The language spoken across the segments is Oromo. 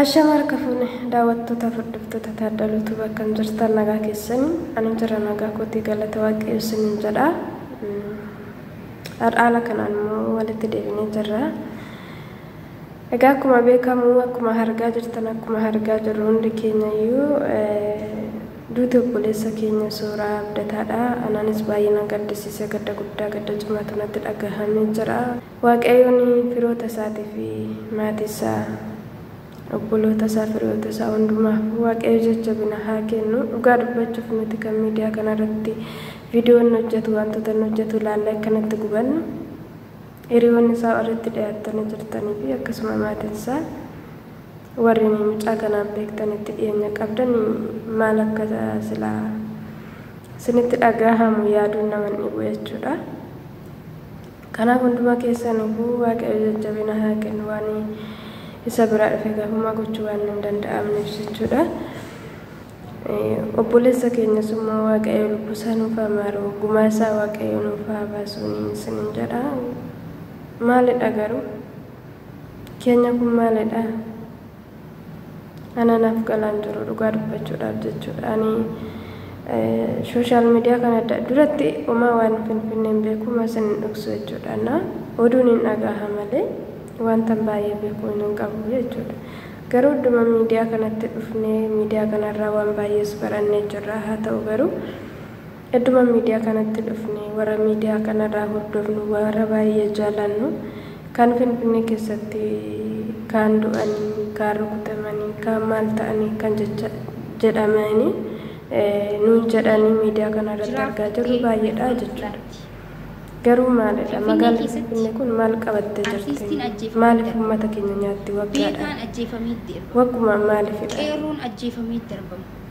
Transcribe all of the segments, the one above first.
Ashama harka fuune daawwattoota furdiftoota taaddaluu tu bakkan jirtan nagaa keessanii ani jira nagaa kootii galata waaqayyo isiniin jedha har'aala kanaan immoo walitti deebinee jirra egaa akkuma beekamu akkuma hargaa jirtan akkuma hargaa jirru hundi keenya iyyuu duuti obboleessa keenya suuraa abdataadha anaanis baay'ee na gaddisiise gadda guddaa gadda cimaatu natti dhagahame jira Waaqayyoon firoota isaatii fi maatii isaa, obboloota isaa, firiyoota isaa hundumaaf Waaqayyo jajjabina haa kennu. Dhugaa dubbachuuf nuti kan miidiyaa kanarratti viidiyoo inni hojjetu, wantoota inni hojjetu ilaallee akka nutti gubannu hiriyoonni isaa warri itti dhiyaattanii jirtanii fi akkasuma maatiin isaa warri mucaa kanaan beektan itti dhiyeenya qabdan maal akka silaa isinitti dhagaahamu yaaduun nama hin dhibu jechuudha. Kanaaf hundumaa keessaniifuu Waaqayyo jajjabina haa kennu waan isa biraa dhufeef homaa gochuu waan hin danda'amneef jechuudha. Obboleessa keenyas immoo Waaqayyo lubbuu isaa nuuf haa maaru gumaa isaa Waaqayyo nuuf haa baasuun isiniin jedha. Maalidha garuu? Keenya kun maalidha? Ana naaf galaa hin jiru dhugaa dubbachuudhaaf jechuudha. Ani sooshaal miidiyaa kana duratti homaa waan finfinnee hin beeku masin hin dhoksu jechuudha. Na oduun hin dhagaha malee wantan baay'ee beeku hin qabu jechuudha. Garuu idduma miidiyaa kanatti dhufnee miidiyaa kanarraa waan baay'ees barannee jirra. Haa ta'u garuu Edduma miidiyaa kanatti dhufne warra miidiyaa kanarraa hordofnu warra baay'ee jaalannu kaan Finfinnee keessatti kaan du'anii kaan rukutamanii kaan maal ta'anii kan jecha jedhamanii nuun jedhanii miidiyaa kanarratti argaa jirru baay'eedha jechuudha. Garuu maalidha magaalli Finfinnee kun maal qabattee jirti maaliif uummata keenya nyaatti waggaadhaan wagguma maaliifidha. Qeerroon ajjeefamee darbama.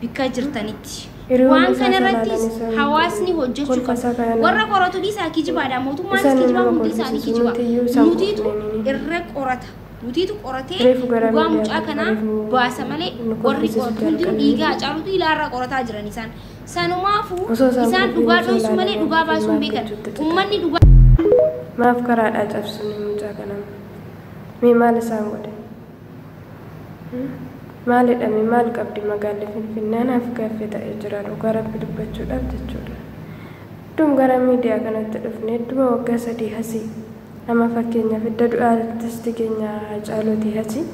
bikka jirtanitti. Waan kana irrattis hawaasni hojjechuu qaba. Warra qoratu dhiisaa kijibaadha. Mootummaanis kijibaa hundi isaanii kijiba. Nutiitu irra qorata. Nutiitu qoratee dhugaa mucaa kanaa baasa malee warri qoratu hundinuu dhiigaa Hacaaluutu ilaarraa qorataa jiran isaan. Sanumaafuu isaan dhugaa dhoysuu malee dhugaa baasuu hin beekan. Ummanni dhugaa Maaf karaadhaa cabsuun mucaa kanaan? Mee maal isaan godhe? Maalidha mee maal qabdi magaalli finfinnee anaaf gaaffii ta'ee jira dhugaa rabbi dubbachuudhaaf jechuudha hedduun gara miidiyaa kanatti dhufne hedduma waggaa sadii hasii nama fakkeenya fidda du'a artisti keenya hacaaluuti hasii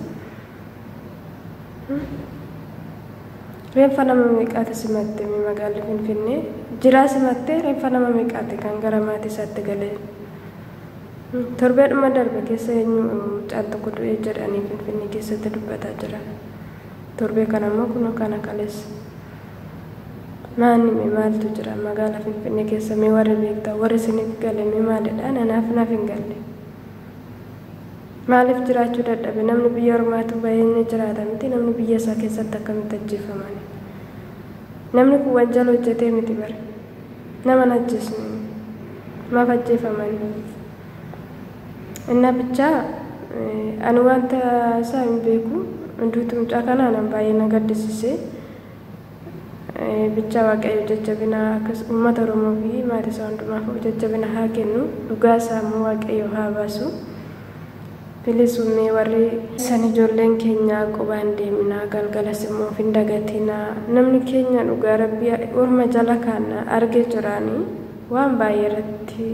reenfa nama meeqaati simatte mee magaalli finfinnee jiraa simattee reenfa nama meeqaati kan gara maatii isaatti galee Torbeedhuma darbe keessa eenyu mucaan tokko du'e jedhanii Finfinnee keessatti dubbataa jiran. Torbee kana immoo kunoo kana kaleessa. Maanni mee maaltu jira magaala Finfinnee keessa mee warri beektan warri isiniif gale mee maalidha nanaaf naaf hin galle. Maaliif jiraachuu dadhabe namni biyya ormaatu bahee ni jiraata miti namni biyya isaa keessatti akkamitti ajjeefamani. Namni kun wanjala hojjetee miti bara. Nama hin ajjeesnu. Maaf ajjeefaman? Innaa bichaa ani wanta isaa hin beeku. Duuti mucaa kanaa nan baay'ee na gaddisiise. Bichaa Waaqayyo jajjabina akkas uummata Oromoo fi maatii isaa hundumaaf jajjabina haa kennu. Dhugaa isaa immoo Waaqayyo haa baasu. Please ummee warri san ijoolleen keenya qubaan deeminaa galgalas immoo of hin dagatinaa namni keenya dhugaa rabbii orma jala kaanna arge jiraani waan baay'ee irratti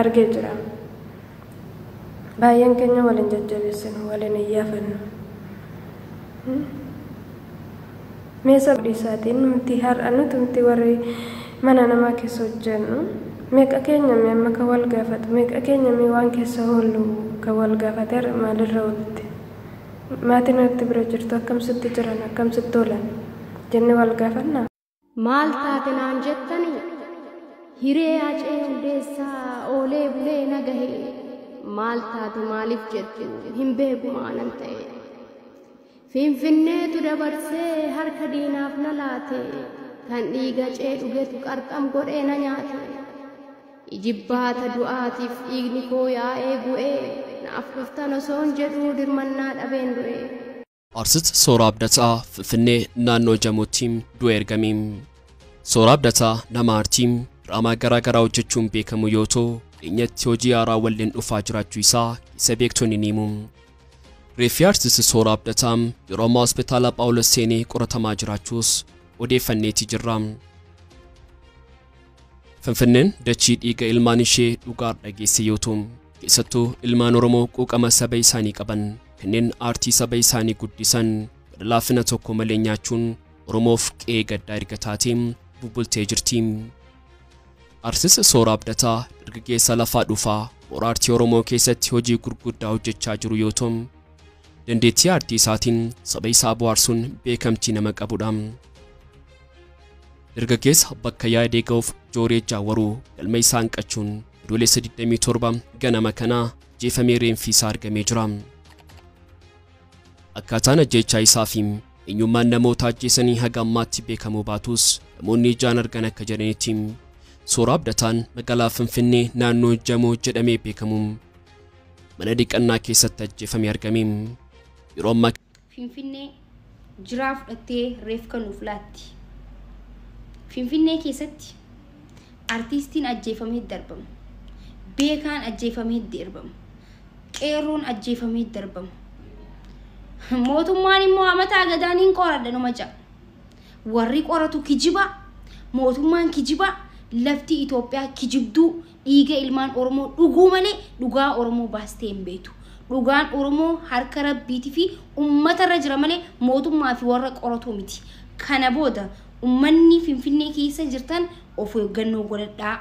arge jira baay'een keenya waliin jajjabeessinu waliin iyyafannu Mee saba dhiisaatiin nuti har'a nuti miti warri mana namaa keessa hojjennu meeqa keenya mee amma kan wal gaafatu meeqa keenya mee waan keessa hoollu kan wal gaafate har'a maalirra oolte maatiin atti bira jirtu akkam sitti jiran akkam sitti oolan jennee wal gaafannaa? Maal taate naan jettani? Hiree Hacee Hundeessaa oolee bulee na gahe. Maal taate maaliif jettu hin beeku maalan ta'e. Finfinneetu dabarsee harka diinaaf na laate. Kan dhiiga Hacee dhugetu qarxam godhee na nyaate. Ijibbaata du'aatiif dhiigni koo yaa'ee bu'ee naaf dhuftan osoon jedhuu dirmannaa dhabeen du'e. Artist Sooraa Abdataa, Finfinnee, naannoo Jamootti du'e ergame. Sooraa Abdataa nama aartii, diraamaa garaa garaa hojjechuun beekamu yoo ta'u, dhiyeenyatti hojii haaraa walleen dhufaa jiraachuu isaa isa beektonni ni himu. Reeffi aartist Sooraa Abdataa yeroo ammaa hospitaala Phaawulos seenee qoratamaa jiraachuus odeeffanneeti jirra. Finfinneen dachii dhiiga ilmaan ishee dhugaar dhageesse yoo ta'u, keessattuu ilmaan Oromoo quuqama saba isaanii qaban, kanneen aartii saba isaanii guddisan gara laafina tokko malee nyaachuun Oromoof qe'ee gaddaa erga taatee bubbultee jirti. Artist Sooraa Abdataa dargaggeessa lafaa dhufaa moora aartii Oromoo keessatti hojii gurguddaa hojjechaa jiru yoo ta'u, dandeettii aartii isaatiin saba isaa bohaarsuun beekamtii nama qabudha. Dargaggeessa bakka yaadee ga'uuf jooreejaa waruu galma isaa hanqachuun Adoolessa 27 ganama kana ajjeefamee reenfi isaa argamee jira. Akkaataan ajjeechaa isaa fi eenyummaan namoota ajjeesanii haga ammaatti beekamuu baatus namoonni ijaan argan akka jedhanitti Sooraa Abdataan magaalaa Finfinnee naannoo Jamoo jedhamee beekamu mana dhiqannaa keessatti ajjeefamee argame. Yeroo ammaa Finfinnee, Jiraa fudhattee reefka nuuf laatti. Finfinnee keessatti artiistiin ajjeefamee darbama. Beekaan ajjeefamee derbama. Qeerroon ajjeefamee darbama. Mootummaan immoo amataa gadaan hin qoradha numa ja'a. Warri qoratu kijibaa, mootummaan kijibaa, lafti Itoophiyaa kijibduu Dhiiga ilmaan Oromoo dhuguu malee dhugaa Oromoo baastee hin beektu. Dhugaan Oromoo harka Rabbiiti fi ummata irra jira malee mootummaa fi warra qoratuu miti. Kana booda ummanni Finfinnee keessa jirtan of eeggannoo godhadhaa.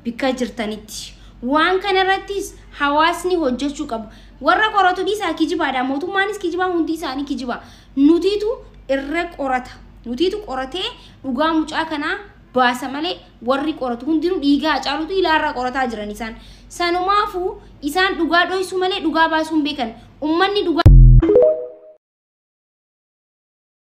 Bikka jirtanitti. Waan kana irrattis hawaasni hojjechuu qabu. Warra qoratu dhiisaa kijibaadha. Mootummaanis kijibaa hundi isaanii kijibaa. Nutiitu irra qorata. Nutiitu qoratee dhugaa mucaa kanaa baasa malee Warri qoratu hundinuu dhiiga Hacaaluutu ilaarraa qorataa jiran isaan. Sanumaafu isaan dhugaa dhoysuu malee dhugaa baasuu hin beekan. Ummanni dhugaa